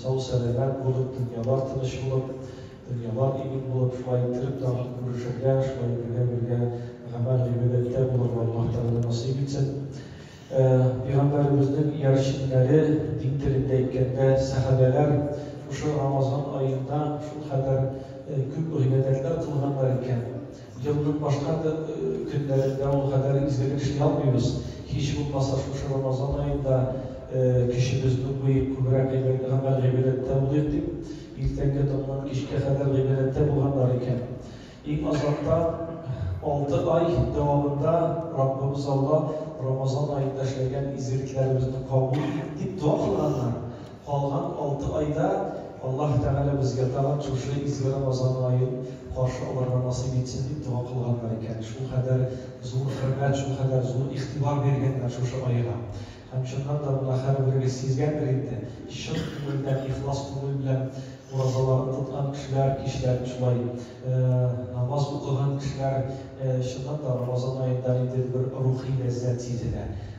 Сау-сәламәт булып, дөньялар тыныч булып, дөньялар имин булып, шулай иттереп тагын күрешергә, шулай бергә бергә гамәл гыйбадәттә булырга Аллаһ Тәгалә насыйп итсен. Пигамбәребезнең иярченнәре, дин телендә әйткәндә, сәхабәләр шушы Рамазан аенда шулкадәр күп гыйбадәтләр кылганнар икән. Елның башка көннәрендә ул кадәр изгелек эшли алмыйбыз. Һич булмаса, шушы Рамазан аенда көчебезне куеп, күбрәк гыйбадәт, гамәл, гыйбадәттә булыйк дип, иртәнге таңнан кичкә кадәр гыйбадәттә булганнар икән. Иң азанда алты ай дәвамында Раббыбыз Алла Рамазан аенда эшләгән изгелекләребезне кабул ит, дип дога кылганнар. Калган алты айда Аллаһ Тәгалә безгә тагын шушы изге Рамазан аен каршы алырга насыйп итсен дип дога кылганнар икән. Шулкадәр зур хөрмәт, шулкадәр зур игътибар биргәннәр шушы айга. Һәм чыннан да моны һәрберегез сизгәндер инде, чын күңелдән, ихлас күңел белән уразаларын тоткан кешеләр, кичләрен шулай намаз укыган кешеләр чыннан да Рамазан аенда ниндидер бер рухи ләззәт сизенә.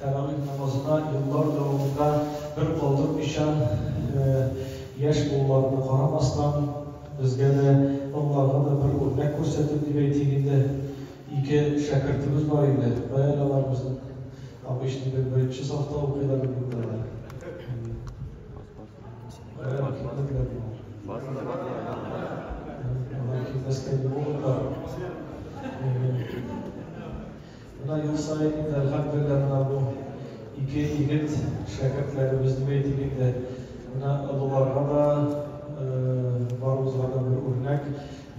Тәравих намазына еллар дәвамында бер калдырмыйчан яшь булуларына карамастан, безгә дә, олыларга да бер үрнәк күрсәтеп дип әйтик инде, ике шәкертебез бар иде. Кая әле алар безнең обычный бер беренче сафта укыйлар иде инде алар. Кая да китмәделәр болар. Алар килмәскә ни булырлар. Менә ел саен инде, әлхәмдүлилләһ, менә бу ике егет, шәкертләребез дип әйтик инде, менә олыларга да, барыбызга да бер үрнәк.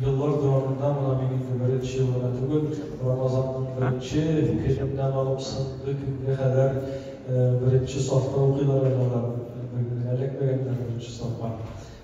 Еллар дәвамында менә мин инде беренче ел гына түгел, Рамазанның беренче көненнән алып соңгы көнгә кадәр беренче сафта укыйлар әле алар, эләкмәгәннәр беренче сафка.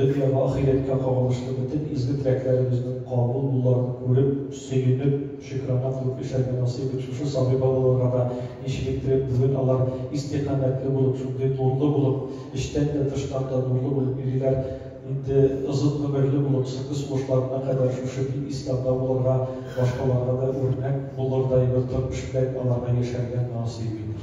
Дөньяга, ахирәткә кагылышлы бөтен изге теләкләребезнең кабул булуларын күреп, сөенеп, шөкранә кылып яшәргә насыйп ит шушы сабый балаларга да, ничелектереп бүген алар истикамәтле булып, шундый нурлы булып, эчтән дә, тыштан да нурлы булып йөриләр, инде озын гомерле булып, соңгы сулышларына кадәр шушы дин ислямда булырга, башкаларга да үрнәк булырдай бер тормыш белән аларга яшәргә насыйп ит.